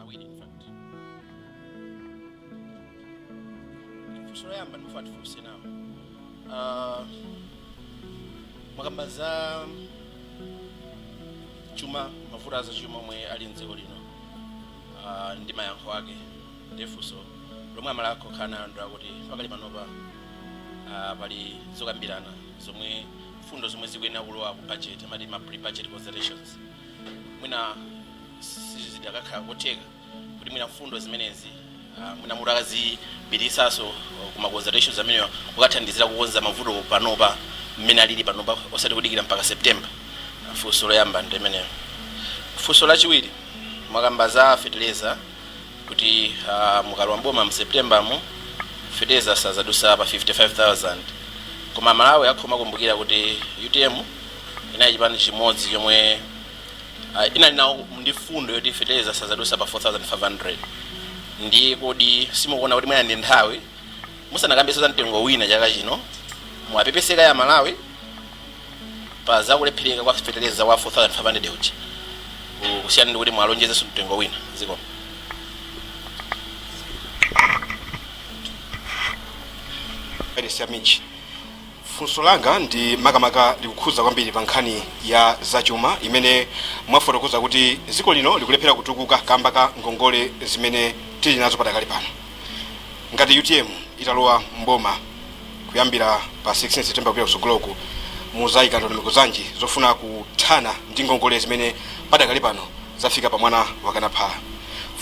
awiri in fact funso loyamba ndimafuna tifunse nawo Ah, mwakamba za chuma mavuto a zachuma omwe ali mdziko lino Ah, ndi mayankho ake nde funso lomwe amalawi akhoza kukhala nayo ndi akuti pakali panopa ah, pali zokambirana zomwe mfundo zomwe zikuyenera kulowa ku budget amati ma pre budget consultations mwina sizidakakhala kotheka kuti mwina mfundo zimenezi ah, mwina mutakazipititsanso kuma consultations amenewa kukathandizira kukonza mavuto panopa mmene alili panopa osati kudikira mpaka september Ah, funso loyamba ndi imeneyo funso lachiwiri mwakamba za feteleza kuti uh, mukalowa mboma mu september mu fertilizer sazadusa pa 55000 koma amalawi akhoza kumakumbukira kuti utm inali chipani chimodzi chomwe uh, inali nawo ndi fundo yoti fertilizer sazadusa pa 4500 ndiye kodi simukuona kuti mwina ndi nthawi musanakambenso za mtengo wina chaka chino muwapepese kaye amalawi pa zakulephereka kwa feteleza wa 4500 uja ku- kusiyana ndi kuti mwalonjezenso mtengo wina zikomo Elisa Michi. funso langa ndi makamaka likukhuza kwambiri pa nkhani ya zachuma imene mwafotokoza kuti dziko lino likulephera kutukuka kamba ka ngongole zimene tili nazo padakali pano ngati utm italowa mboma kuyambira pa 16 september kupita kusogoloku muzayika ndondomeko zanji zofuna kuthana ndi ngongole zimene padakali pano zafika pa mwana wakana phala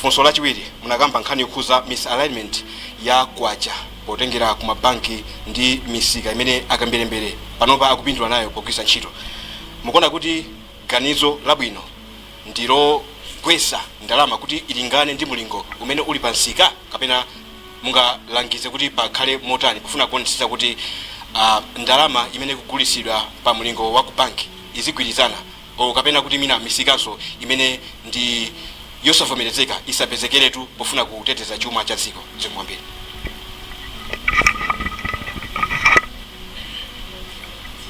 funso lachiwiri munakamba nkhani yokhuza misalignment ya kwacha potengera ku mabanki ndi misika imene akamberembere panopa akupindula nayo pogwiritsa ntchito mukuona kuti ganizo labwino ndi logwetsa ndalama kuti ilingane ndi mulingo umene uli pa nsika kapena mungalangize kuti pakhale motani pofuna kuonetsetsa kuti a ndalama imene ikugulitsidwa pa mlingo wa ku bank izigwirizana o kapena kuti mwina misikanso imene ndi yosavomerezeka isapezekeretu pofuna kuteteza chuma cha dziko zikomo kwambiri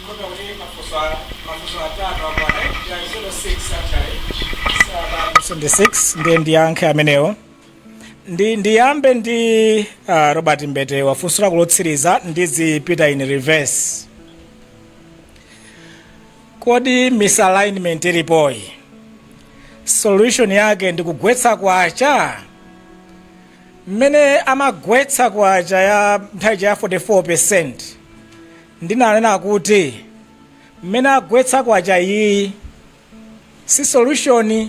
Kota kuti mafunso a- mafunso atatu akwana ya 06 actually. Saba- 26 ndiye ndiyankhe amenewo ndi ndiyambe ndi uh, robert mbetewa funso lako lotsiriza ndizipita in reverse kodi misalignment ilipoyi solution yake ndi kugwetsa kwacha mmene amagwetsa kwacha ya nthawi ija ya 44 percent ndinanena kuti mmene agwetsa kwacha iyi si solution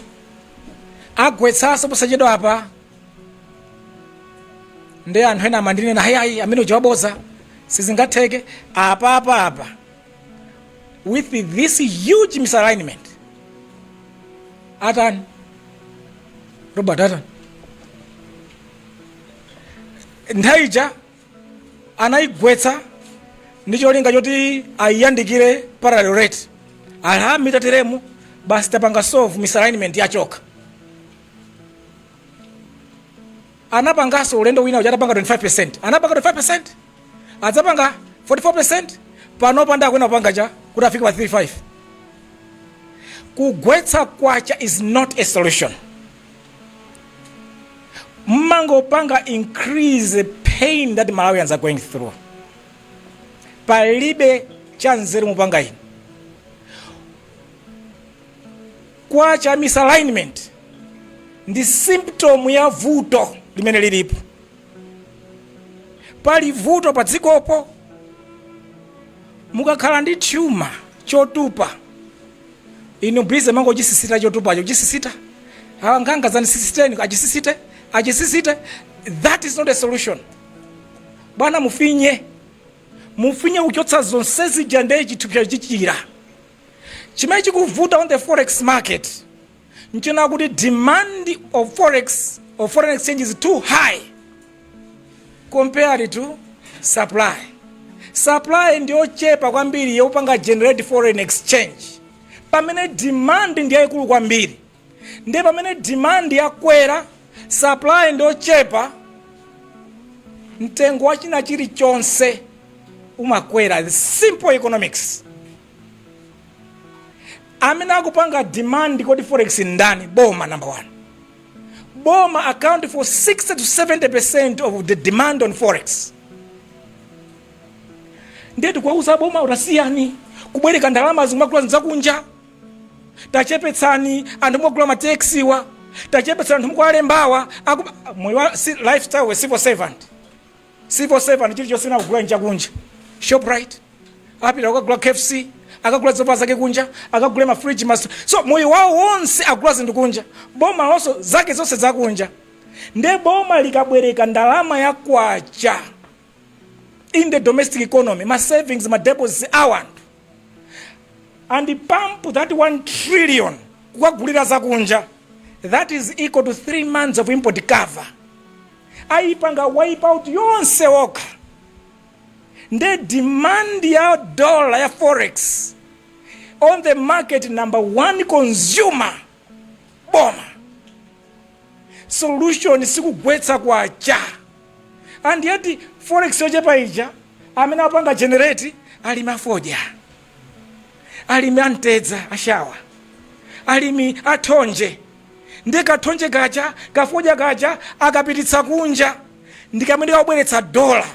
agwetsanso posachedwa apa ndi anthu ena amandinena aa ayi amene uja waboza sizingatheke apa apa apa with this huge misalignment atani robert atani nthawi ija anaigwetsa ndi cholinga choti aiyandikire parallel rate amvekere tateremu basi tapanga solve misalignment yachoka anapanganso ulendo wina uja atapanga 25 anapanga 25 adzapanga 44 panopa ndiye akunena kupanga chakuti afike pa 35 kugwetsa kwacha is not a solution mumangopanga increase the pain that malawians are going through palibe chanzeru mupanga inu kwacha misalignment ndi symptom ya vuto limene lilipo pali vuto pa dzikopo mukakhala ndi chithupsa chotupa Inu busy mumangochisisita chotupacho chisisita. Awa ang'anga dzandisisiteni achisisite achisisite. That is not a solution. Bwana mufinye mufinye kuchotsa zonse zija ndiye chithupsa chichira. Chimene chikuvuta on the forex market nchonena kuti demand of forex or foreign exchange is too high. compared to supply supply ndiyochepa kwambiri yopanga generate foreign exchange pamene demand ndiyayikulu kwambiri ndiye pamene demand yakwera supply ndiyochepa mtengo wa china chilichonse umakwera The simple economics amene akupanga demand ku forex ndani boma number one boma accounts for 60 to 70 percent of the demand on forex ndiye tikuwauza boma tasiyani kubwereka ndalama nkumagula zakunja tachepetsani anthu mukugula mataxiwa tachepetsani anthu mukuwalembawa a moyo wa si- lifestyle ya civil servant Civil servant chilichonse chimene akugula nchakunja. Shoprite, apita kukagula KFC, akagula zovala zakunja, akagula ma fridge ma. So moyo wawo wonse akugula zinthu kunja. Boma nalonso zake zonse zakunja. Nde boma likabwereka ndalama ya kwacha in the domestic economy, ma savings, ma deposits a anthu and pump that 1 trillion kukagulira zakunja that is equal to 3 months of import cover. ayipanga wipe out yonse okha nde demand ya dollar ya forex on the market number one consumer boma solution sikugwetsa kwacha and yet forex yochepa ija amene apanga generate alimi afodya alimi amtedza ashawa alimi athonje nde kathonje kaja kafodya kaja akapititsa kunja ndikamene kakubweretsa dola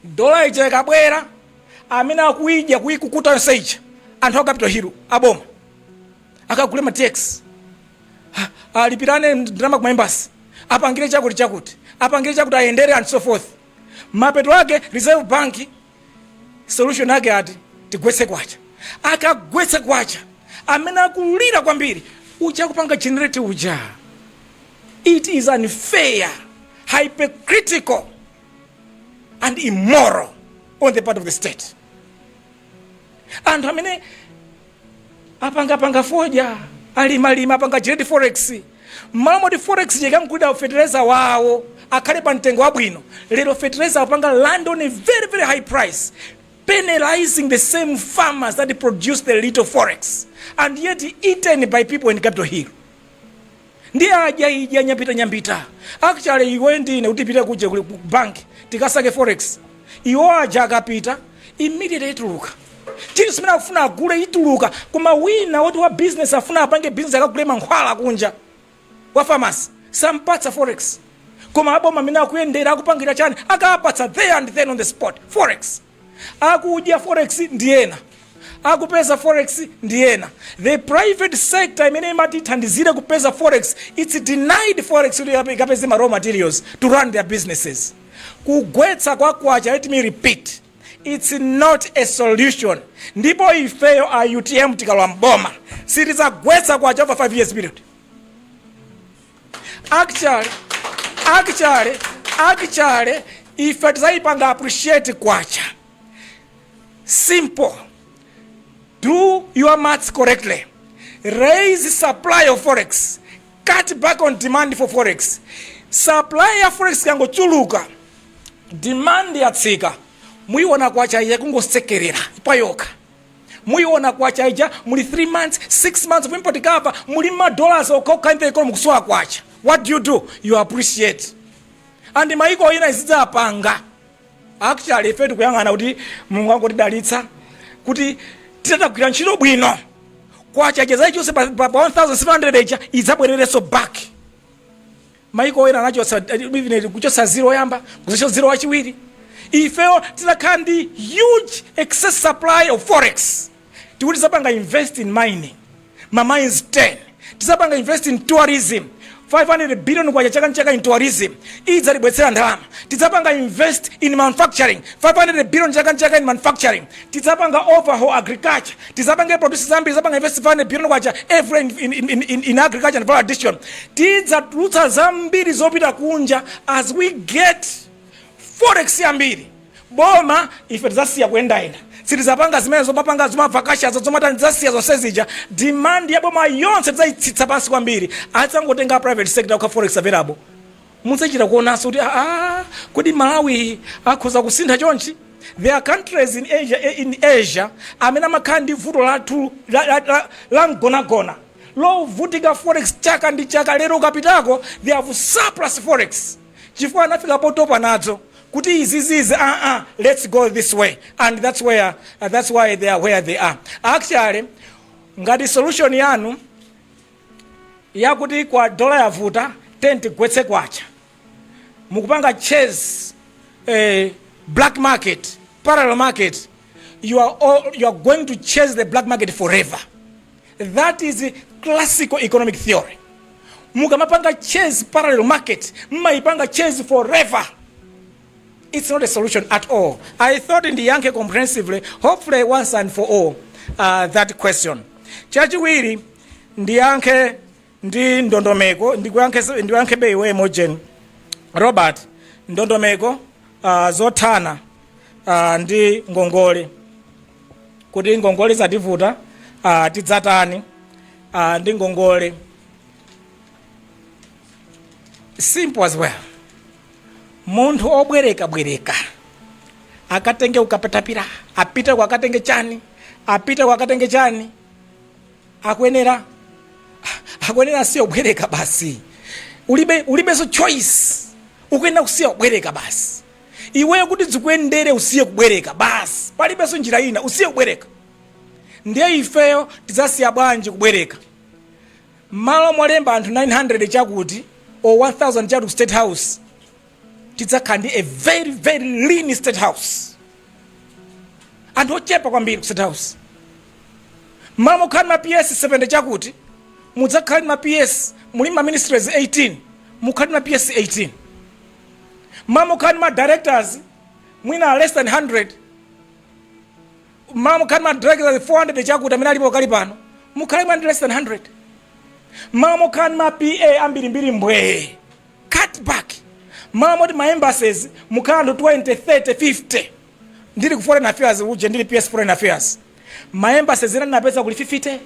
dola ija ikabwera amene akuidya kuikukuta yonse ija anthu a capital hill aboma akagule ma tx alipirane ndalama ku maembasi apangire chakuti chakuti apangire chakuti ayendere and so forth mapeto ake reserve bank solution ake ati tigwetse kwacha akagwetse kwacha amene akulira kwambiri uja akupanga generate uja it is unfair hypocritical and immoral on the part of the state anthu amene apangapanga fodya alimalima apanga generate forex mmalo moti forex ija ikamugulira fetereza wawo akhale pa mtengo wabwino lero fetereza wapanga land on a very very high price penalizing the same farmers that produce the little forex and yet eaten by people in capital hill Ndi adya idya nyampita nyampita. Actually iwe ndi ine kuti tipite kuja ku bank tikasake forex. Iwo aja akapita immediately ituluka. Chinthu chimene akufuna agule ituluka koma wina woti wa business afuna apange business akagule mankhwala kunja wa pharmacy sampatsa forex. Koma aboma amene akuyendera akupangira chani akapatsa there and then on the spot forex. akudya forex ndi ena akupeza forex ndi ena the private sector imene imati ithandizire kupeza forex its denied forex kuti ikape- ikapeze ma raw materials to run their businesses kugwetsa kwa kwacha let me repeat its not a solution ndipo ifeyo a utm tikalowa mboma sitizagwetsa kwacha over 5 years period actually ife tizayipanga appreciate kwacha simple do your maths correctly raise supply of forex cut back on demand for forex supply ya forex ikangochuluka demand yatsika muyiona kwacha ija ikungosekerera payokha muyiona kwacha ija muli 3 months 6 months of import cover muli madollars okhaokha in the economy mukusowa kwacha what do you do you appreciate and mayiko ena izidzapanga actually ife tikuyang'ana kuti mulungu angotidalitsa kuti titatagwira ntchito bwino kwacha ija zaichonse pa, pa, pa 1700 ija idzabwererenso back maiko ena anachotsa even kuchotsa zero oyamba kuzachotsa zero wachiwiri ifeyo tidzakhala ndi huge excess supply of forex tikuti tidzapanga invest in mining ma mines 10 tidzapanga invest in tourism 500 billion kwacha chaka nchaka in tourism iyi idzatibwetsera ndalama tidzapanga invest in manufacturing 500 billion chaka nchaka in manufacturing tidzapanga overhaul agriculture tidzapanga produce zambiri tidzapanga invest 500 billion kwacha every year in, in, in, in agriculture and value addition tidzatulutsa zambiri zopita kunja as we get forex yambiri boma ife tidzasiya kuyendayenda sitidzapanga zimene zomapanga zomavakachazo zomatani tidzasiya zonse zija demand ya boma yonse tidzaitsitsa pansi kwambiri adzangotenga private sector kukhala forex available Mudzachita kuonanso kuti aah kodi Malawi akhoza kusintha chonchi? There are countries in Asia in Asia amene amakhala ndi vuto lathu la la la la mgonagona lovutika forex chaka ndi chaka lero ukapitako they have surplus forex chifukwa anafika potopa nadzo kuti izizi izi aa let's go this way and that's where uh, that's why they are where they are actually ngati solution yanu yakuti kwa dola yavuta ten tigwetse kwacha mukupanga chase eh, black market parallel market you are, all, you are going to chase the black market forever that is classical economic theory mukamapanga chase parallel market mmayipanga chase forever it's not a solution at all i thought ndiyankhe comprehensively hopefully once and for all uh, that question chachiwiri ndiyankhe ndi ndondomeko ndikuyankhe- ndiyankhebe iwe mojen robert ndondomeko uh, zothana uh, ndi ngongole kuti ngongole zativuta uh, tidzatani uh, ndi ngongole simple as well munthu obwerekabwereka akatenge kukatapira apite kwa akatenge chani apite kwa akatenge chani akuyenera akuyenera asiye kubwereka basi ulibe ulibenso choice ukuyenera kusiya kubwereka basi iweyo kuti zikuyendere usiye kubwereka basi palibenso njira ina usiye kubwereka ndiye ifeyo tidzasiya bwanji kubwereka mmalo molemba anthu 900 chakuti or 1000 chakuti ku state house tidzakhala ndi a very very lean state house anthu ochepa kwambiri ku state house mmalo mokhala ma ps 70 chakuti mudzakhala ndi ma ps muli ma ministries 18 mukhala ndi ma ps 18 mmalo mokhala ndi ma directors mwina less than 100 mmalo mokhala ndi ma directors 400 chakuti amene alipo pakali pano mukhala ndi less than 100 mmalo mokhala ndi ma pa ambirimbiri mbwee cut back mmalo moti ma embassies mukhale anthu 20 30 50 ndili ku foreign affairs uje ndili ps foreign affairs ma embassies ena ndinapeza kuli 50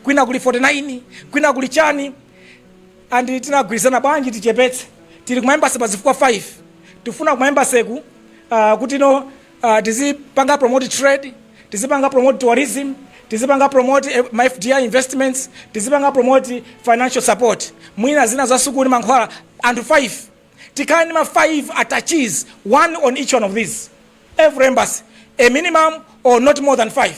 kwina kuli 49 kwina kuli chani and tinagwirizana bwanji tichepetse tili ku ma embassy pa zifukwa 5 tifuna ku ma embassy ku uh, kuti no Uh, tizipanga promote trade tizipanga promote tourism tizipanga promote eh, ma fdi investments tizipanga promote financial support mwina zina za sukulu ndi mankhwala anthu 5 tikhale ndi ma 5 attaches one on each one of these every embassy a minimum or not more than 5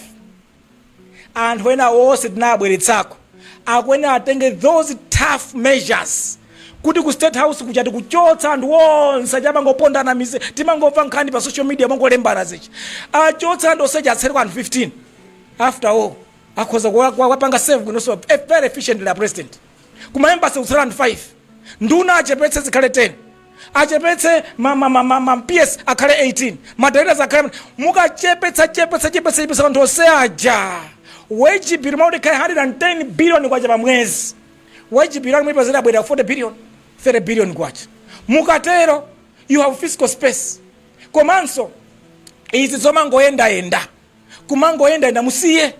anthu ena onse tinabweretsako akuyenera atenge those tough measures kuti ku state house kuja tikuchotsa anthu onse achamangopondana mise timangomva nkhani pa social media mongolembana zichi achotsa anthu onseja atsale anthu 15 after all akhoza kuwa- kuwa- kuwapanga save kunoso very efficiently a president kumaembasi kutsala anthu 5 nduna achepetse zikhale 10 achepetse ma ma ma ma ma PS akhale 18 ma directors akhale mukachepetsa chepetsa chepetsa chepetsa anthu onse aja wage bill mmalo moti ukhale 110 billion kwacha pa mwezi wage bill muipeza yabwera 40 billion 30 billion kwacha mukatero you have fiscal space komanso izi zomangoyendayenda kumangoyendayenda musiye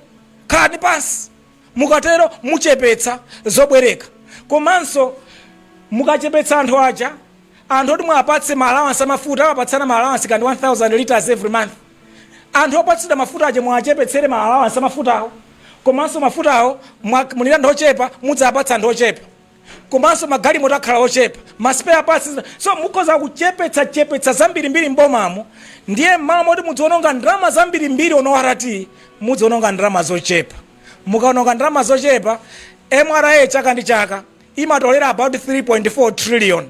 khalani pansi Mukatero muchepetsa zobwereka komanso mukachepetsa anthu aja anthu oti muwapatse ma allowance amafuta amapatsana ma allowance kandi 1000 litres every month anthu opatsidwa mafuta aja muwachepetsere ma allowance amafutawo komanso mafutawo mumwera anthu ochepa mudzawapatsa anthu ochepa komanso magalimoto akhala ochepa, ma spare parts so mukhoza kuchepetsa chepetsa zambirimbiri m'bomamo ndiye m'malo moti mudziwononga ndalama zambirimbiri on ORT mudziwononga ndalama zochepa. Mukawononga ndalama zochepa, mra chaka ndi chaka imatolera about 3.4 trillion.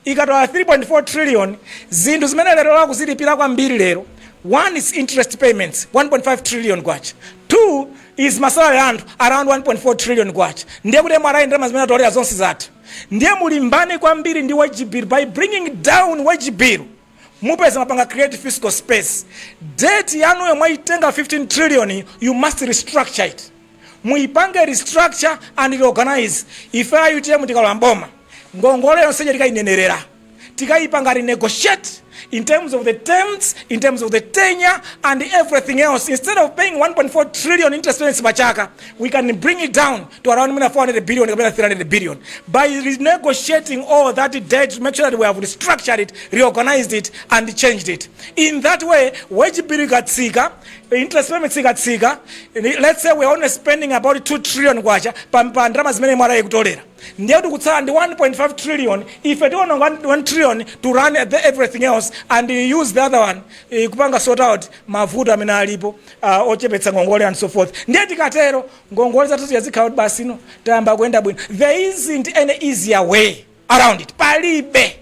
ikatola 3.4 trillion zinthu zimene lero akuzilipira kwambiri lero one is interest payments 1.5 trillion kwacha two is masalary anthu around 1.4 trillion kwacha ndiye kuti mra ndalama zimene atolera zonse zatha ndiye mulimbane kwambiri ndi wage bill by bringing down wage bill mupeza mwapanga create fiscal space debt yanuyo mwaitenga 15 trillion yi, you must restructure it muipange restructure and reorganize ife a utm tikalowa mboma ngongole yonse ija tikainenerera tikaipanga renegotiate in terms of the terms in terms of the tenure and everything else instead of paying 1.4 trillion interest payments pachaka we can bring it down to around mwina 400 billion kapena 300 billion by renegotiating all that debt to make sure that we have restructured it reorganized it and changed it in that way wage bill ikatsika interest payments ikatsika let's say we are only spending about 2 trillion kwacha pa pa ndalama zimene mwana ikutolera ndiye kuti kutsala ndi 1.5 trillion ife tiona 1 trillion to run the everything else and use the other one eh, kupanga sort out mavuto amene alipo uh, ochepetsa ngongole and so forth ndiye tikatero ngongole zathu zija zikhala kuti basi no tayamba kuyenda bwino there isn't any easier way around it palibe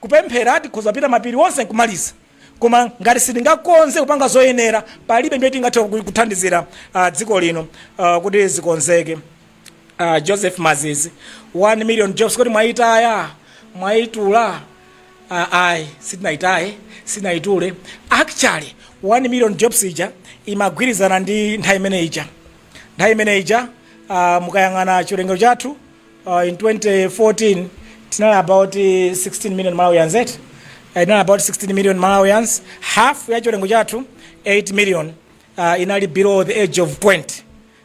kupemphera tikhoza kupita mapiri onse nkumaliza koma ngati sitingakonze kupanga zoyenera palibe njira tingathe ku- kuthandizira uh, dziko lino uh, kuti zikonzeke uh, joseph mazizi 1 million jobs kodi mwaitaya mwaitula uh, ayi sitinaitaye sitinaitule actually 1 million jobs ija imagwirizana ndi nthawi imene ija nthawi imene ija uh, mukayang'ana chiwerengero chathu uh, in 2014 tinali about 16 million malawians et uh, inali about 16 million malawians half ya chiwerengero chathu 8 million uh, inali below the age of 20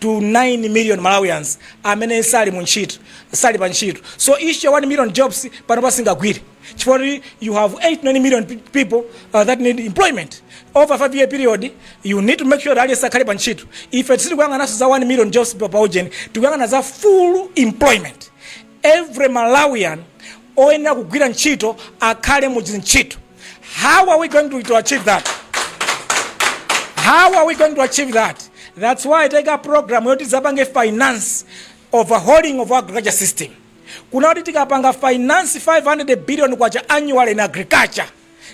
to 9 million Malawians amene sali mu ntchito sali pa ntchito so issue ya 1 million jobs panopa singagwire chifukwa kuti you have 8 9 million pe- people uh, that need employment over 5 year period you need to make sure that akhale pa ntchito ife sitikuyang'ananso za 1 million jobs pa pa ujeni tikuyang'ana za full employment Every Malawian oyenera kugwira ntchito akhale mu dzintchito. How are we going to, to achieve that? How are we going to achieve that? That's why I take a program yoti zapange finance overhauling of agriculture system. Kuna kuti tikapanga finance 500 billion kwacha annual in agriculture.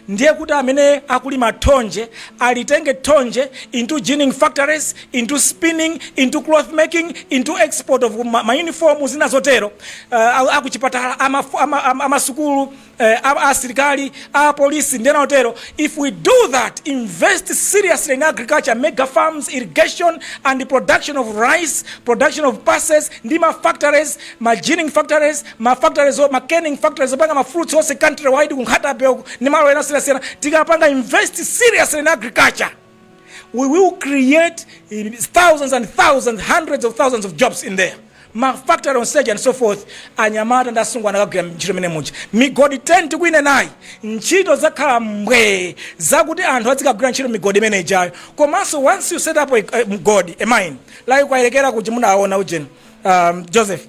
ndiye kuti amene akulima thonje alitenge thonje into ginning factories, into spinning, into cloth making, into export of ma, ma uniform zina zotero uh, akuchipatala amasukulu ama, ama uh, asilikali apolisi ndi ena otero if we do that invest seriously in agriculture mega farms irrigation and production of rice production of pulses ndi ma factories ma ginning factories ma factories o- ma canning factories opanga ma fruits onse countrywide ku Nkhata Bay uku ndi malo ena osiyanasiyana tikapanga invest seriously in agriculture we will create eh, thousands and thousands hundreds of thousands of jobs in there ma factory on stage and so forth anyamata ndi asungwana akagwira ntchito imene muja migodi 10 tikuinenayi ntchito zakhala mbwee zakuti anthu azikagwira ntchito migodi imene ijayo komanso once you set up a, a, mgodi a mine like Kayelekera kuja munaona ujeni um, Joseph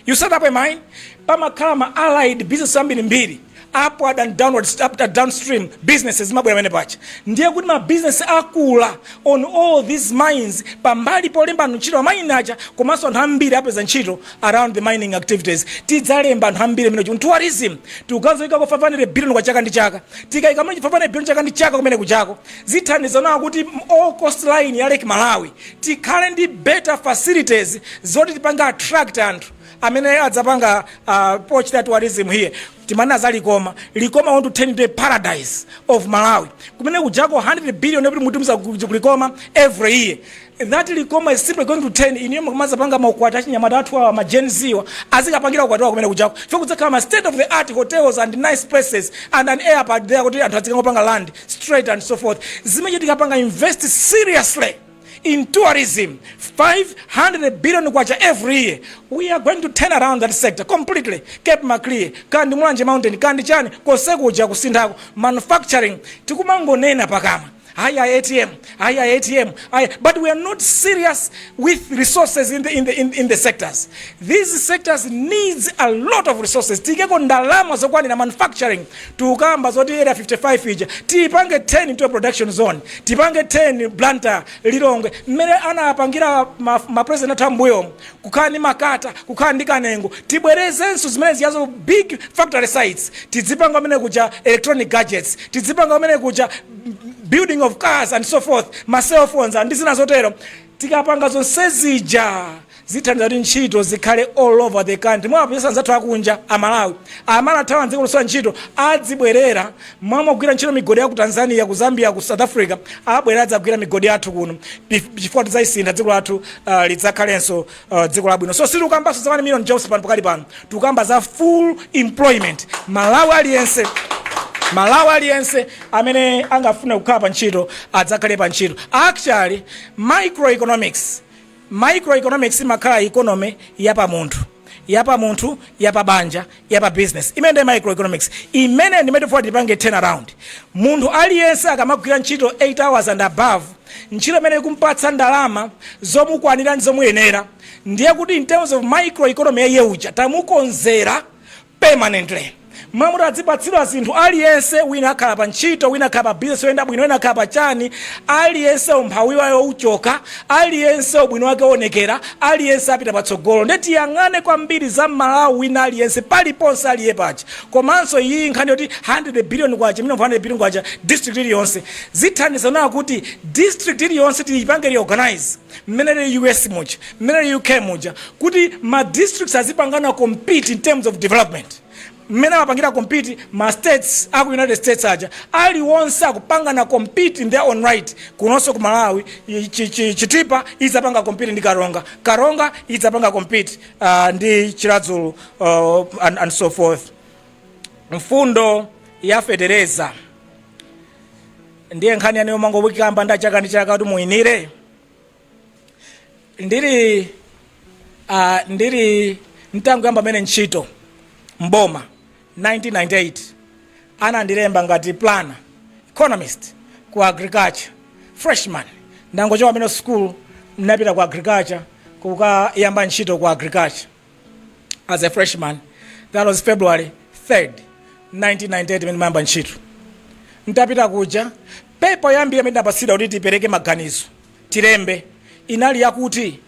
you set up a mine pamakhala ma allied business ambirimbiri upward and downward up and downstream businesses zimabwera pamene paja ndiye kuti ma business akula on all these mines pambali polemba anthu ntchito a mine aja komanso anthu ambiri apeza ntchito around the mining activities tidzalemba anthu ambiri amene kuti tourism tikukaikako 500 billion kwa chaka ndi chaka tikayika mene 500 billion chaka ndi chaka kumene kujako zithandiza nawo kuti all coastline ya Lake Malawi tikhale ndi better facilities zoti tipange attract anthu amene adzapanga uh, pochita tourism here timanena za Likoma Likoma want to turn into a paradise of Malawi kumene kujako 100 billion yopita kutumiza ku Likoma every year that Likoma is simply going to turn inuyo mukamazapanga maukwati achinyamata athu awa ma Gen Z wa azikapangira ukwati wawo kumene kujako for kudzakhala ma state of the art hotels and nice places and an airport there kuti anthu azikangopanga land straight and so forth zimene tikapanga invest seriously in tourism 500 billion kwacha every year we are going to turn around that sector completely cape maclear kandi mulanje mountain kandi chani konsekuja kusinthako manufacturing tikumangonena pakamwa haya atm ayi a ATM ayi but we are not serious with resources in the, in the, in, in the sectors these sectors needs a lot of resources tiyikeko ndalama zokwanira manufacturing tikukamba zoti area 55 ija tiyipange turn into a production zone tipange turn Blantyre Lilongwe mmene anapangira ma, ma president athu ambuyomu kukhala ndi Makata, kukhala ndi Kanengo, tibwerezenso zimene zijazo big factory sites, tidzipanga kumene kuja electronic gadgets, tidzipanga kumene kuja building of cars and so forth, ma cell phones and ndi zina zotero. Tikapanga zonse zija zithandiza kuti ntchito zikhale all over the country. mupeza anzathu akunja a Malawi amene anathawa m'dziko posowa ntchito adzibwerera Mmamagwira ntchito migodi ya ku Tanzania, ku Zambia, ku South Africa, abwere adzagwire migodi yathu kuno chifukwa tidzalisintha dziko lathu uh, lidzakhalenso uh, dziko labwino so sitikukambanso za 1 million jobs pano pakali pano tikukamba za full employment mmalawi aliyense mmalawi aliyense amene angafune kukhala pa ntchito adzakhale pa ntchito actually microeconomics Microeconomics imakhala economy ya pa munthu, ya pa munthu, ya pa banja, ya pa business. Imeneyo ndiye microeconomics. Imeneyo ndi imene tikufuna tipange turn around. Munthu aliyense akamagwira ntchito 8 hours and above, ntchito imene ikumpatsa ndalama zomukwanira ndi zomuyenera, ndiye kuti in terms of microeconomy ya iye uja tamukonzera, permanently. Mwamoti adzipatsidwa zinthu aliyense wina akhala pa ntchito wina akhala pa business yoyenda bwino wina akhala pa chani aliyense umphawi wawo uchoka aliyense ubwino wake uonekera aliyense apita patsogolo nde tiyang'ane kwambiri za mmalawi wina aliyense paliponse aliye paja komanso iyi nkhani yoti 100 billion kwacha mino 100 billion kwacha district iliyonse zithandiza nawo kuti district iliyonse tiyipange reorganize mmene lili US muja, mmene lili UK muja, kuti ma districts azipangana compete in terms of development, mmene amapangira compete ma states a ku United States aja, aliwonse akupangana compete in their own right. Kunonso ku Malawi, i- chi- chi- Chitipa idzapanga compete ndi Karonga, Karonga idzapanga compete uh, ndi Chiradzulu uh, and, and so forth. Mfundo ya fetereza ndiye nkhani yake iyo mangoyikamba nda chaka ndi chaka kuti muyinire ndili uh, ndili nditangoyamba kumene ntchito mboma 1998 anandilemba ngati planner economist ku agriculture freshman ndangochoka kumene school ndinapita ku agriculture kukayamba ntchito ku agriculture as a freshman that was february 3rd 1998 mmene ndimayamba ntchito ntapita kuja pepa yoyambirira imene ndinapatsidwa kuti tipereke maganizo tilembe inali yakuti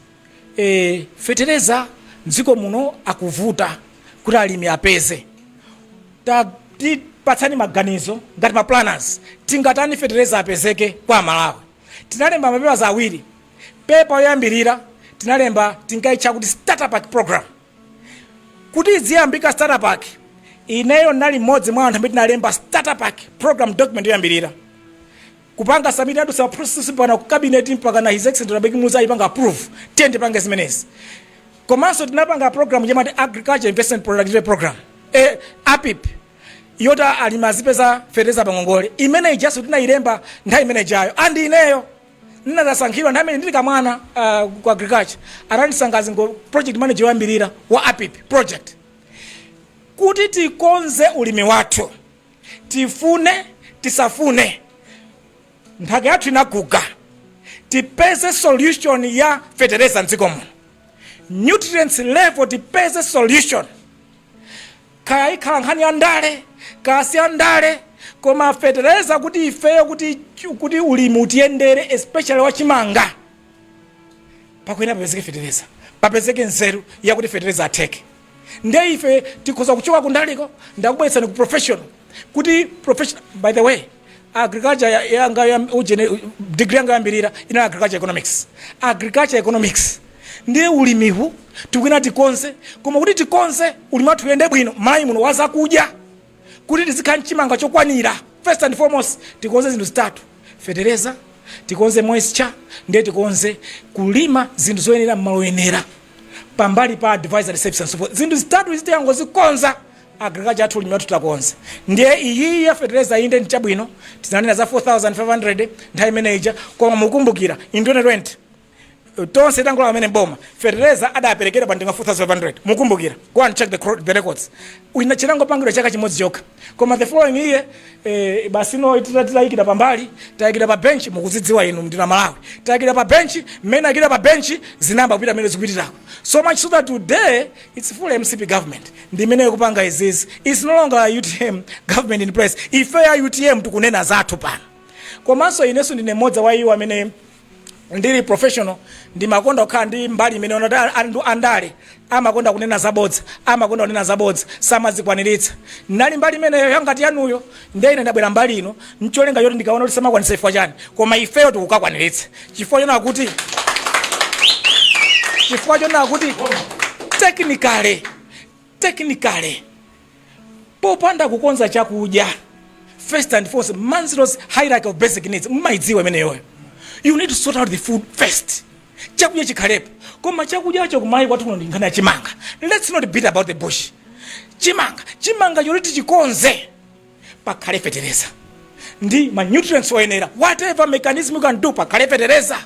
eh, fetereza mdziko muno akuvuta kuti alimi apeze tipatsani maganizo ngati maplanners tingatani fetereza apezeke kwa Amalawi tinalemba mapepa awiri pepa yoyambirira tinalemba tinkaitcha kuti starter pack program kuti idziyambika starter pack ineyo ndinali mmodzi mwa anthu amene tinalemba starter pack program document yoyambirira kupanga submit kudutsa ma process mpakana ku cabinet mpakana his excellency Dr Bakili Muluzi aipanga approve tiyeni tipange zimenezi komanso tinapanga program yamati agricultural investment productivity program eh, apip yoti alimi azipeza fetereza pangongole imene ijanso tinayilemba nthawi imene ijayo andi ineyo ndinasankhidwa nthawi imene ndili kamwana ah, ku agriculture anandisankha ngo project manager woyambirira wa apip project kuti tikonze ulimi wathu tifune tisafune nthaka yathu inaguga tipeze solution ya fetereza mdziko muno nutrients level tipeze solution Kaya ikhala nkhani ya ndale, kaya si ya ndale, koma fetereza kuti ifeyo kuti, kuti ulimi utiyendere especially wa chimanga, pakuyenera papezeke fetereza, papezeke nzeru yakuti fetereza atheke. Nde ife tikhoza kuchoka kundaliko ndikubweretsani ku professional kuti professional, by the way, agriculture ya- yanga ya ujene degree yanga yoyambirira inali agriculture economics agriculture economics ndiye ulimihu tikuyenera tikonze koma kuti tikonze ulimi wathu uyende bwino m'Malawi muno wazakudya kuti tizikhala n'chimanga chokwanira first and foremost tikonze zinthu zitatu fetereza tikonze moisture ndiye tikonze kulima zinthu zoyenera mmalo oyenera pambali pa advisory services and so forth zinthu zitatu izi tikangozikonza Agriculture yathu ulimi wathu takonza ndiye iyiyi ya fetereza inde ndi chabwino tinanena za 4500 nthawi imene ija koma mukumbukira in 2020 tonse tangolowa kumene m'boma fetereza adaperekedwa pa zingati 4500 mukumbukira go and check the, cro- the records Ina- chinangopangidwa chaka chimodzi chokha koma the following year eh, basi no tita- titayikira pambali tayikidwa pa benchi mukuzidziwa inu nonse amalawi tayikidwa pa benchi mmene tayikidwa pa benchi zinayamba kupita mmene zikupitirako so much so that today Its full mcp government ndi imene ikupanga izizi. Its no longer utm government in place. Ife a utm tikunena zathu pano. Komanso inenso ndine mmodzi wa iwo amene ndili professional ndimakonda kukhala ndi mbali imeneyo ya kuti anthu andale amakonda kunena zabodza amakonda kunena zabodza samazikwaniritsa ndinali mbali imeneyo yangati yanuyo Ndiye ine ndabwera mbali ino n'cholinga choti ndikaone kuti samakwanitsa chifukwa chani, koma ifeyo tikukakwaniritsa chifukwa chonena kuti chifukwa chonena kuti technically technically popanda kukonza chakudya first and foremost Maslow's hierarchy of basic needs mumaidziwa imeneyoyo you need to sort out the food first chakudya chikhalepo koma chakudyacho kumalawi kwathu kuno ndi nkhani ya chimanga let's not beat about the bush chimanga chimangacho kuti tichikonze pakhale fetereza ndi ma nutrients oyenera whatever mechanism you can do pakhale fetereza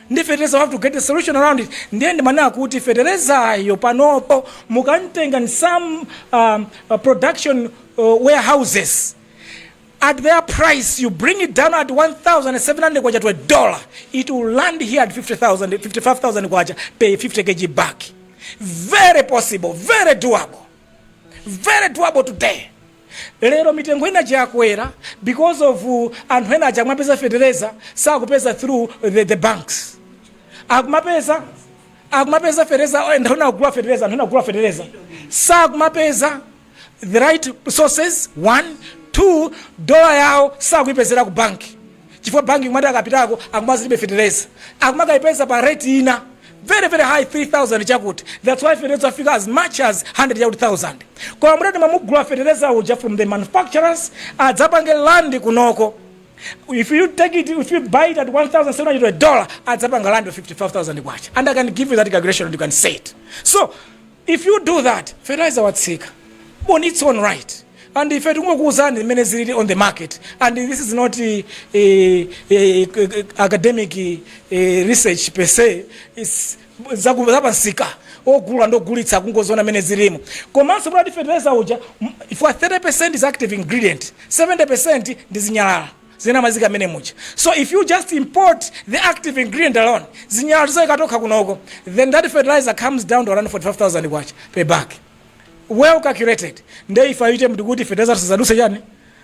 ndi fetereza we have to get a solution around it ndiye ndimanena kuti feterezayo panopo mukamtenga in some um, uh, production uh, warehouses at their price you bring it down at 1700 kwacha to a dollar it will land here at 50000 55000 kwacha per 50 kg bag very possible very doable very doable today lero mitengo ina chakwera because of uh, anthu ena aja akumapeza fetereza sakupeza through the, the banks akumapeza akumapeza fetereza oh, anthu ena agula fetereza anthu ena agula fetereza sakumapeza the right sources one two dola yawo sakuyipezera ku banki chifukwa banki kumati akapitako akumati ilibe fetereza akumakayipeza pa rate ina very very high 3000 chakuti that's why fetereza wafika as much as 100 chakuti 1000 koma mutati mumugula fetereza uja from the manufacturers adzapange land kunoko if you take it if you buy it at 1700 dollar adzapanga land pa 55000 kwacha and i can give you that calculation and you can say it so If you do that fertilizer watsika on its own right and ife tikungokuuzani mmene zilili on the market and this is not eh, eh, eh, academic eh, research per se izi zaku- zapamsika ogula ndogulitsa kungoziona mmene zilimo komanso kuti fertilizer uja m- 30 is active ingredient 70 ndi zinyalala zinamwazika mmene muja so if you just import the active ingredient alone zinyalala tizaika tokha kunoko then that fertilizer comes down to around 45000 kwacha per bag well calculated nde ife ayi tikuti fertilizer sizaduse chani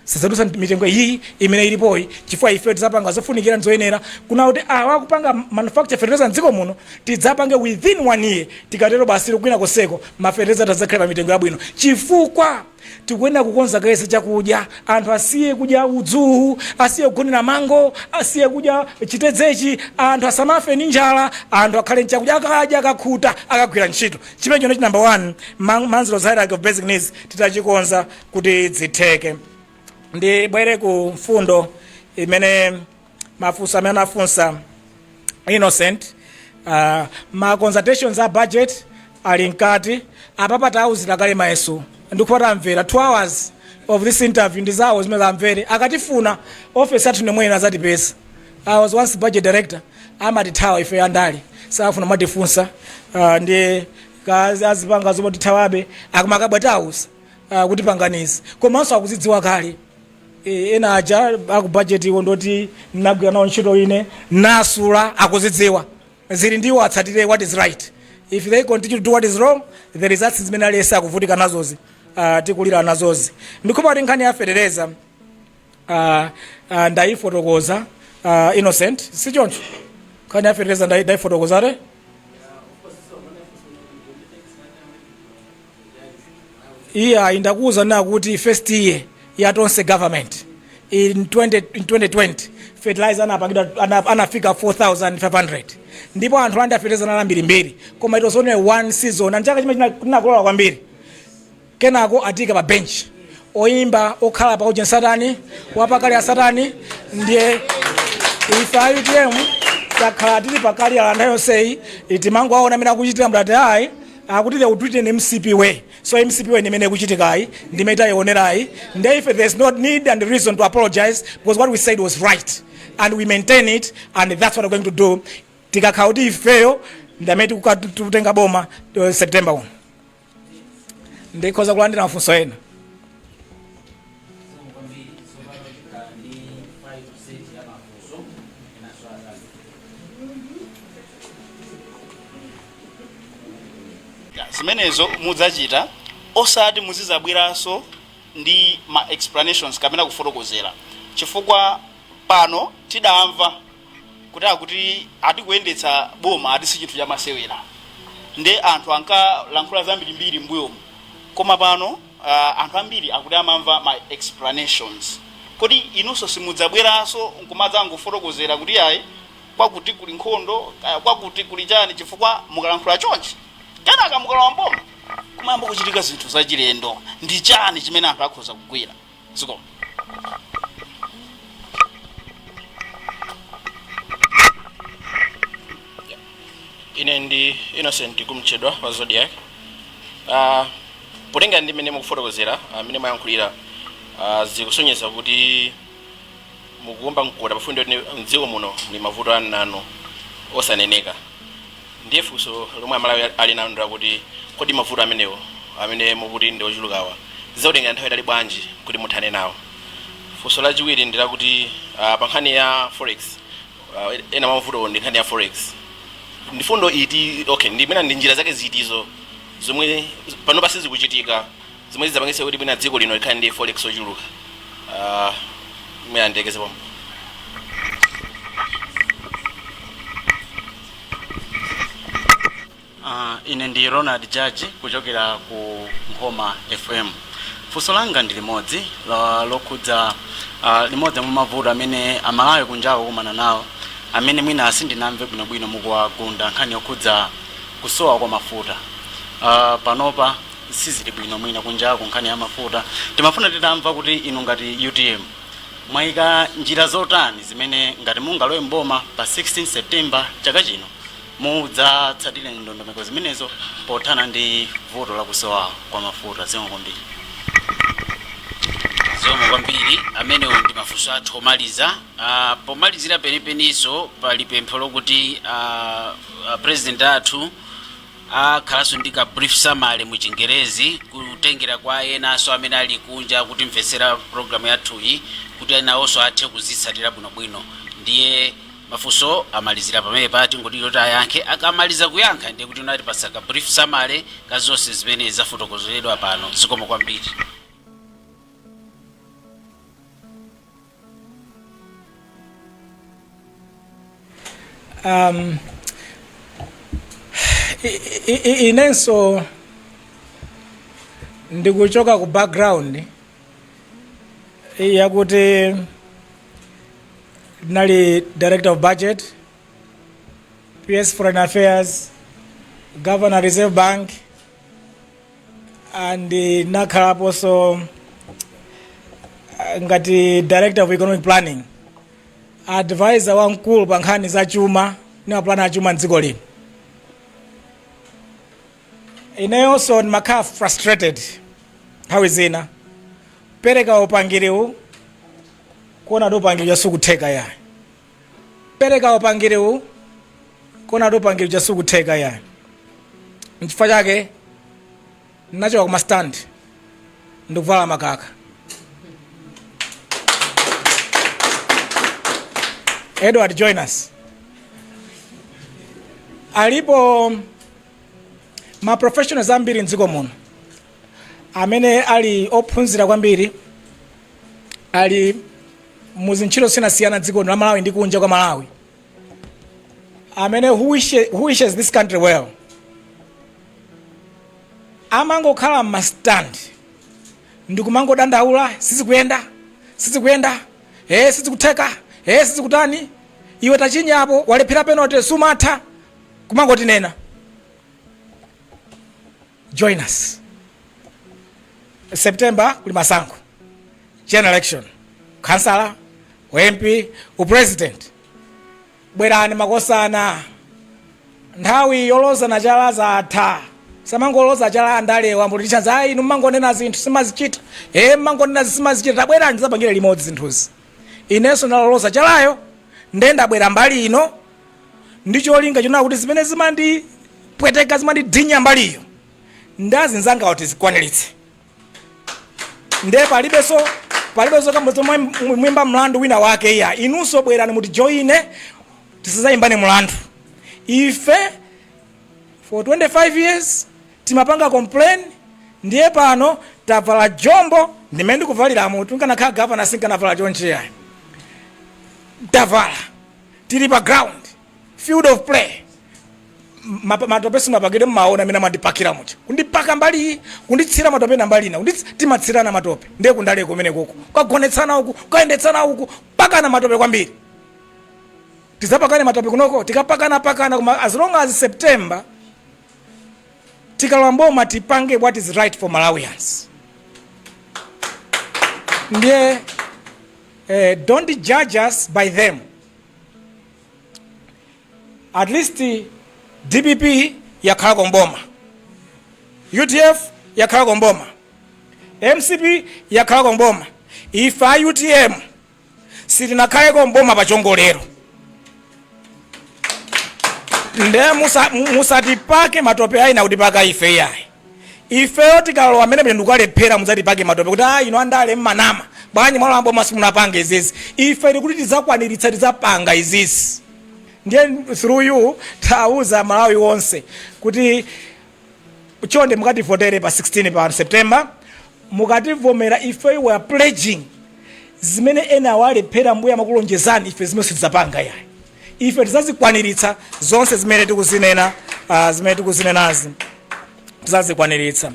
sizaduse mitengo iyi imene ilipoyi chifukwa ife tidzapanga zofunikira ndizoyenera kuona kuti awa akupanga manufacture fertilizer mdziko muno tidzapange within one year tikatero basi kwina konseko mafertilizer adzakhala pa mitengo yabwino chifukwa Tikuyenera kukonza kaye za chakudya. Anthu asiye kudya udzu uwu, asiye kugonera mango, asiye kudya chitedzechi, anthu asamafe ndi njala, anthu akhale ndi chakudya, akadya, akakhuta, akagwira ntchito. Chimenecho ndicho number one ma Maslow's hierarchy of basic needs tidzachikonza kuti zitheke. Ndibwere ku mfundo imene mafunso amene anafunsa innocent uh, ma consultations a budget ali mkati apapa tawauzira kale mayeso ndipo atamvera 2 hours of this interview ndi zawo zimene amvere akatifuna ma office athu ndi omwewa azatipeza i was once budget director amatithawa ife andali safuna matifunsa uh, ndi kazi azipanga zomwe tithawabe akamakabwa tausa uh, kuti panganizi komanso akuzidziwa kale Eh, ena aja aku budget iwo ndoti ndagwira nawo ntchito ine ndasula akuzidziwa zili ndiwo atsatire what is right if they continue to do what is wrong the results zimene aliyese akuvutika nazozi uh, tikulira nazozi ndikhulupira kuti nkhani ya fetereza uh, uh, ndayifotokoza uh, innocent si choncho nkhani ya fetereza ndayi- ndayifotokoza te iye ayi ndakuuzani kuti first year ya tonse government in 20 in 2020 fertilizer anapangidwa ana- anafika 4500 ndipo anthu olandira fertilizer anali ambirimbiri koma it was only one season ndi chaka chimene tinakolola kwambiri kenako atika pa bench oyimba okhala pa ujeni satani wapakali ya satani ndiye ife a utm takhala tili pakali ulendo wonsewu timangowaona amene akuchitira mdati ayi akuti they will do it in mcp way so mcp way ndimene ikuchitikayi ndimene taioneratu nde ife there's no need and reason to apologize because what we said was right and we maintain it and that's what we're going to do tikakhala kuti ifeyo ndi amene tikuka- tikutenga boma uh, september 1 ndikhoza kulandira mafunso ena Zikomo kwambiri. Tsopano tikhala ndi 5% ya mafunso enanso akazi. zimenezo mudzachita osati muzizabweranso ndi ma explanations kapena kufotokozera chifukwa pano tidamva kuti akuti ati kuyendetsa boma ati si chinthu chamasewera nde anthu ankalankhula zambirimbiri m'mbuyomu koma pano uh, anthu ambiri akuti akumamva ma explanations kodi inunso simudzabweranso nkumadzangofotokozera kuti ayi kwakuti kuli nkhondo uh, kwakuti kuli chani chifukwa mukalankhula chonchi kenaka mukalowa mboma kumayamba kuchitika zinthu zachilendo ndi chani chimene anthu akhoza kugwira zikomo ine ndi innocent kumtchedwa wa zodiak uh, potenga ndi mmene mukufotokozera mmene uh, mwayankhulira uh, zikusonyeza kuti mukuomba mkota pa fundo yoti mdziko muno muli mavuto anayi osaneneka ndiye funso lomwe amalawi ali nalo ndi lakuti kodi mavuto amenewo amene mukuti ndi ochulukawa zizakutengerani nthawi yaitali bwanji kuti muthane nawo funso lachiwiri ndi lakuti uh, pa nkhani ya forex uh, ena mwa mavutowo ndi nkhani ya forex ndi fundo iti okay ndi mwina ndi njira zake ziti zomwe panopa sizikuchitika zomwe zidzapangitse kuti mwina dziko lino likhale ndi forex ochuluka Ah, mwina ndilekeze pompo Uh, ine ndi ronald jaji kuchokera ku nkhoma fm funso langa ndi limodzi la- lokhudza uh, limodzi mwa mavuto amene amalawi kunjaku akukumana nawo amene mwina sindinamve bwinobwino mukuwagunda nkhani yokhudza kusowa kwa mafuta uh, panopa sizili bwino mwina kunjaku nkhani ya mafuta timafuna titamva kuti inu ngati utm mwayika njira zotani zimene ngati mungalowe mboma pa 16 september chaka chino mudzatsatire ndondomeko zimenezo pothana ndi vuto la kusowa kwa mafuta zikomo kwambiri zikomo kwambiri amenewo ndi mafunso athu omaliza Ah, pomalizira penipeninso pali pempho lokuti ah, ah, president athu akhalanso ndi ka brief summary mu chingerezi kutengera kwa enanso amene ali kunja akutimvetsera programu yathuyi kuti enawonso athe kuzitsatira bwinobwino ndiye mafunso amalizira pamenepa tingoti kuti ayankhe akamaliza kuyankha ndiye kuti atipatsa ka brief summary ka zonse zimene zafotokozeredwa pano zikomo kwambiri um, i- i- i- inenso ndikuchoka ku background yakuti ndinali director of budget ps foreign affairs governor reserve bank Ah, ndinakhalaponso ah, ngati director of economic planning advisor wamkulu pa nkhani za chuma ndi mapulani a chuma mdziko lino ineyonso ndimakhala frustrated nthawi zina pereka upangiriwu kuona kuti upangiri uja sukutheka yayi pereka upangiriwu kuona kuti upangiri uja sukutheka yayi nchifukwa chake ndinachoka kuma stand ndikuvala makaka edward join us alipo ma professionals ambiri mdziko muno amene ali ophunzira kwambiri ali mu zintchito zosiyanasiyana dziko lino la malawi ndi kunja kwa malawi amene who wishes, who wishes this country well amangokhala m'mastandi ndikumangodandaula sizikuyenda sizikuyenda ee sizikutheka ee sizikutani iwe tachinyapo walephera penalty sumatha kumangotinena join us september kuli masankho general election khansala ump upresident bwerani makosana nthawi yolozana chala zatha samangoloza chala andalewo mbuti chanzi ayi inu mmangonena zinthu simazichita e mmangonena zinthu simazichita tabwerani tidzapangire limodzi zinthuzi inenso ndaloloza chalayo nde ndabwera mbali ino ndi cholinga chonena kuti zimene zimandipweteka zimandidinya mbaliyo ndi azinzangawa tizikwaniritse ndiye palibenso palibenso kamba komwimba mlandu wina wake iya inunso bwerani mutijoine tisazayimbane mlandu ife for 25 years timapanga complain ndiye pano tavala jombo mmene ndikuvaliramu ndikanakhala gavana sinkanavala chonchi yayi tavala tili pa ground field of play Ma- matope simapakidwe mmaona amene amandipakira muja kundipaka mbali kunditsira matope na mbali ina kundits- timatsirana matope ndiye kundale kumene koko kagonetsana uku kayendetsana uku pakana matope kwambiri tizapakane matope kunoko tikapakana pakana koma as long as september tikalowa mboma tipange what is right for malawians ndiye uh, don't judge us by them at least dpp yakhalako mboma udf yakhalako mboma mcp yakhalako mboma ife a utm sitinakhaleko mboma pa chiwongolero nde musa- mu- musatipake matope ayi nakutipaka ife iyayi ifeyo tikalowa mmenemo tikalephera mudzatipake matope kuti a inu andale mmanama bwanji mwalowa mboma simunapange izizi ife tikuti tidzakwaniritsa tidzapanga izizi ndiye through you tauza malawi wonse kuti chonde mukativotere pa 16 pa september mukativotera ife we are pledging zimene ena awalephera mmbuyo amakulonjezani ife zimenezo sitidzapanga yayi ife tizazikwaniritsa zonse zimene tikuzinena uh, zimene tikuzinenazi tizazikwaniritsa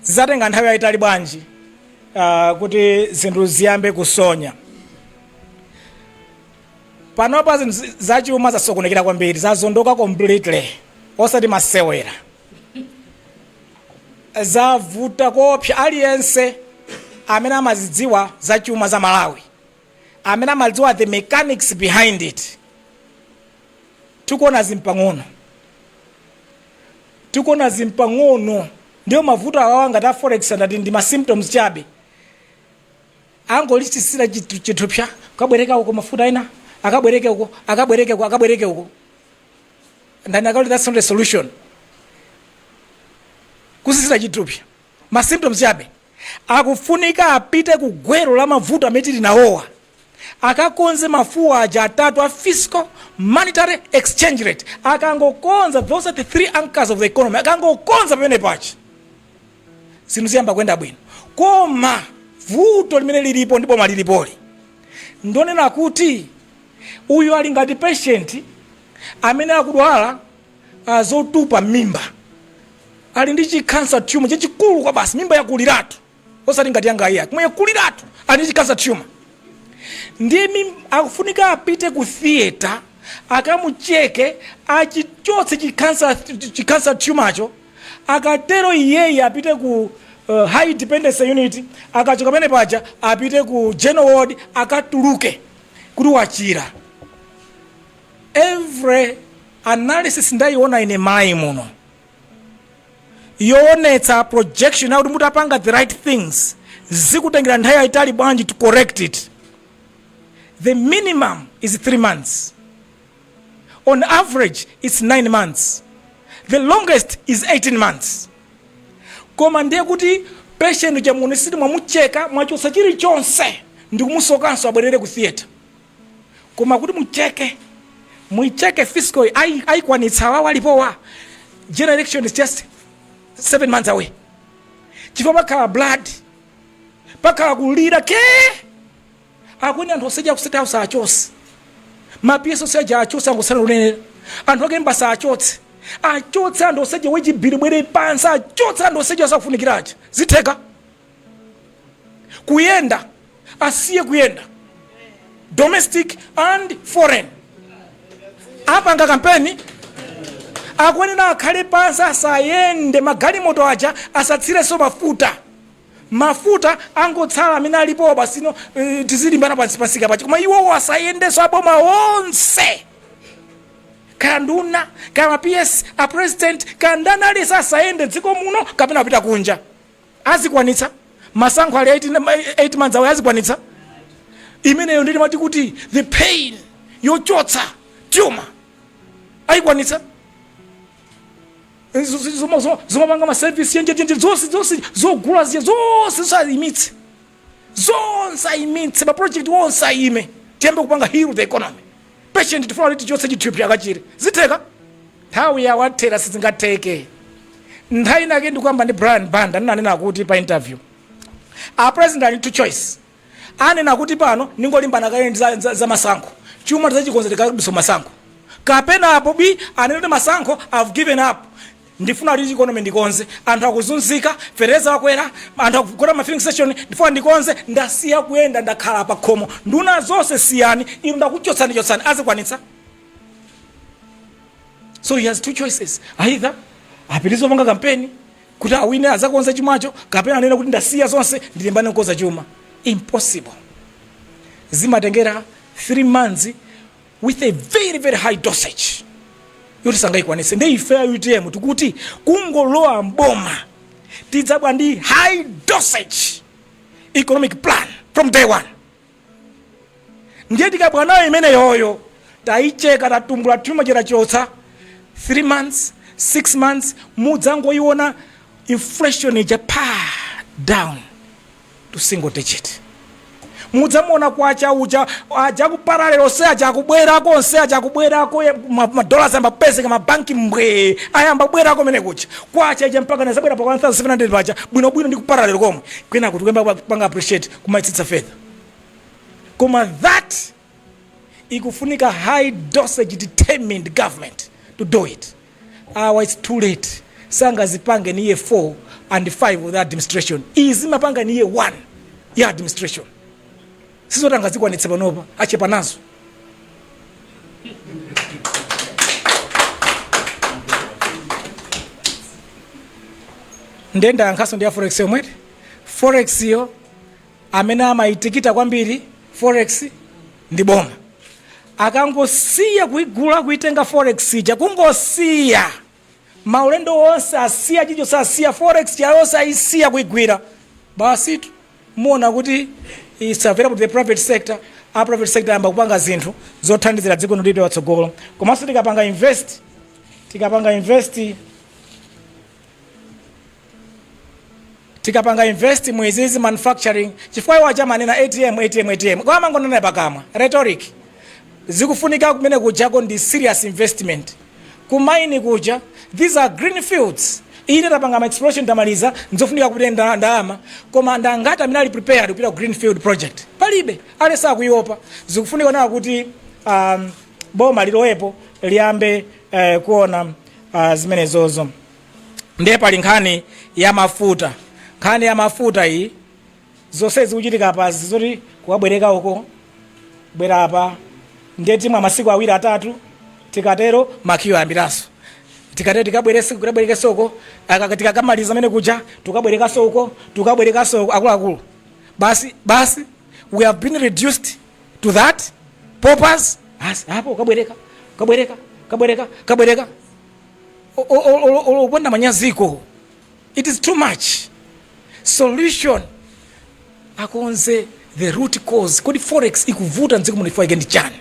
zizatenga nthawi yayitali bwanji uh, kuti zinthu ziyambe kusonya panopa zinthu zi- zachuma zasokonekera kwambiri zazondoka completely osati masewera zavuta koopsa aliyense amene amazidziwa zachuma za malawi amene amadziwa the mechanics behind it tikuwona zimpang'ono tikuona zimpang'ono ndipo mavuto awawa ngati a forex ndati ndi ma symptoms chabe akungosisita chithu- chithupsa kabwereka uko mafuta ena akabwereke uko akabwereke uko akabwereke uko ndani akaunti that's not a solution kusisita chithupsa ma symptoms chabe akufunika apite ku gwero la mavuto amene tili nawowa akakonze mafuwa aja atatu a fiscal monetary exchange rate akangokonza those are the three anchors of the economy akangokonza pamene pachi zinthu ziyamba kuyenda bwino koma vuto limene lilipo ndi boma lilipoli ndonena kuti uyu ali ngati patient amene akudwala uh, zotupa mimba ali ndi chikansa tumor chachikulu kwabasi mimba yakuliratu osati ngati yangayi koma yakuliratu ali ndi chikansa tumor ndiye mim- akufunika apite ku theatre akamucheke achichotse chikansa chikansa tumacho Akatero iyeyu apite ku uh, high dependency unit, akachoka pamene paja apite ku general ward akatuluke kuti wachira. Every analysis ndayiona ine mmayiko muno yoonetsa projection yakuti mutapanga the right things zikutengera nthawi yayitali bwanji to correct it the minimum is 3 months on average its 9 months the longest is 18 months koma ndiye kuti patient uja muonetsetse mwamucheka mwachotsa chilichonse ndikumusokanso abwerere ku theatre koma kuti mucheke muicheke fiscal ayi- ayikwanitsa awawa alipowa general election is just 7 months away chifukwa pakhala blood pakhala kulira Akuyenera anthu onse aja ku state house achotse. Ma PS onse aja achotse angotsala oyenera. Anthu akuembassy achotse. Achotse anthu onse aja wage bill ibwere pansi achotse anthu onse aja osafunikira aja. Zitheka. Kuyenda asiye kuyenda. Domestic and foreign. Apanga kampeni akuyenera akhale pansi asayende magalimoto aja asatsirenso mafuta mafuta angotsala amene alipowa basi eh, tizilimbana pansi pansika pachi koma iwowo asayendenso aboma onse kaya nduna kaya ma ps a president kaya ndani aliyense asayende dziko muno kapena apita kunja azikwanitsa masankho ali mu 8 ma- 8 months awo azikwanitsa imeneyo ndimati kuti the pain yochotsa tumor ayikwanitsa zomapanga maservice enjeenje zonse zonse zogula zija zonse zonse ayimitse zonse ayimitse maprojekti onse ayime tiyambe kupanga heal the economy patient tifuna kuti tichotse chotupa akachire zitheka nthawi yawathera sizingatheke nthawi inake ndikuyankhula ndi brian banda ndinanena kuti pa interview a president ali two choices anena kuti pano ndingolimbana kaye ndi za, za, za masankho chuma tizachikonza tikadutsa masankho kapena apo bi anena kuti masankho i've given up ndifuna kuti economy ndikonze anthu akuzunzika fetereza wakwera anthu akugona mma filling station ndifuna ndikonze ndasiya kuyenda ndakhala pa khomo nduna zonse siyani inu ndakuchotsani chotsani azikwanitsa so he has two choices either apitirize kupanga kampeni kuti awine azakonza chumacho kapena anene kuti ndasiya zonse ndilimbane nkukonza chuma impossible zimatengera 3 months with a very very high dosage yoti sangayikwanise nde ife a utm tikuti kungolowa mboma tidzabwera ndi high dosage economic plan from day one ndiye tikabwera nayo imeneyoyo tayicheka tatumbula chuma chitachotsa 3 months 6 months mudzangoyiona inflation ija pa down to single digit mudzamuona kwacha uja aja kuparalelo onse aja akubwerako onse aja akubwerako ye- ma- madollars ayamba kupezeka mabanki mbwee ayamba kubwerako mene kuja kwacha ija mpaka nazabwera pa 1700 paja bwinobwino ndi kuparalelo komwe mwina kuti kuyamba kupanga appreciate kumaitsitsa further koma that ikufunika high dosage determined government to do it awa its too late sangazipange ni year 4 and 5 of the administration izi zimapanga ni year 1 ya administration sizoti angazikwanitse panopa achepa nazo nde ndayankhanso nkhani ya forex yomweyi forexyo amene amaitikita kwambiri forex ndi boma akangosiya kuigula kuitenga forex ija kungosiya maulendo onse asiya chinachilichonse asiya forex ija yonse ayisiya kuigwira basitu muona kuti it's available to the private sector a private sector ayamba kupanga zinthu zothandizira dziko lino lipite patsogolo komanso tikapanga invest tikapanga invest tikapanga invest mu izizi manufacturing chifukwa iwo akamanena atm atm atm koma amangonena pakamwa rhetoric zikufunika kumene kujako ndi serious investment kumaini kuja these are green fields ife tapanga ma exploration tamaliza nzofunika kupita ndalama koma ndangati amene ali prepared kupita ku greenfield project palibe aliyense akuiopa zikufunika nawo kuti um, boma lilowepo liyambe eh, kuona ah, zimenezozo ndiye pali nkhani ya mafuta nkhani ya mafuta iyi zonse zikuchitika apazi zoti kukabwereka uko bwera apa ndiye timwa masiku awiri atatu tikatero ma queue ayambiranso tikatero tikabwereke tikabwerekenso uko aka- tikakamaliza amene kuja tukabwerekanso uko tukabwerekanso uko akuluakulu basi basi we have been reduced to that paupers apo kabwereka kabwereka kabwereka kabwereka O- o- o- o- o- opanda manyazi ko it is too much solution akonze the root cause kodi forex ikuvuta mdziko muno chifukwa chake ndi chani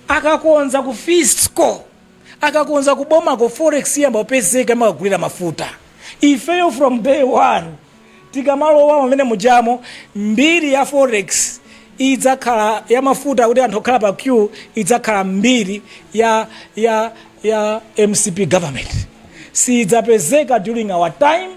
akakonza ku fiscal akakonza kubomako forex iyamba kupezeka imakagulira mafuta ifeyo from day one tikamalowa mmene mujamo mbiri ya forex idzakhala ya mafuta kuti anthu akukhala pa queue idzakhala mbiri ya ya ya mcp government siyidzapezeka during our time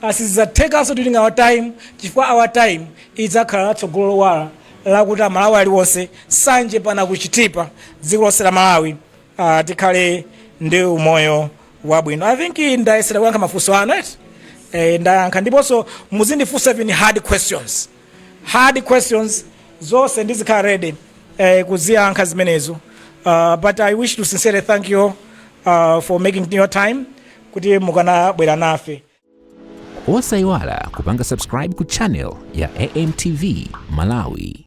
a Sizidzathekanso kuti during our time chifukwa our time idzakhala la tsogolo lowala lakuti a Malawi aliwonse Nsanje mpaka ku Chitipa dziko lonse la Malawi ah, tikhale ndi umoyo wabwino. I think ndayesera kuyankha mafunso anu eti eh, ndayankha ndiponso muzindifunsa even hard questions. hard questions zonse ndizikhala ready eh, kuziyankha zimenezo uh, but i wish to sincerely thank you uh, for making your time kuti mukadabwera nafe osayiwala kupanga subscribe ku channel ya amtv malawi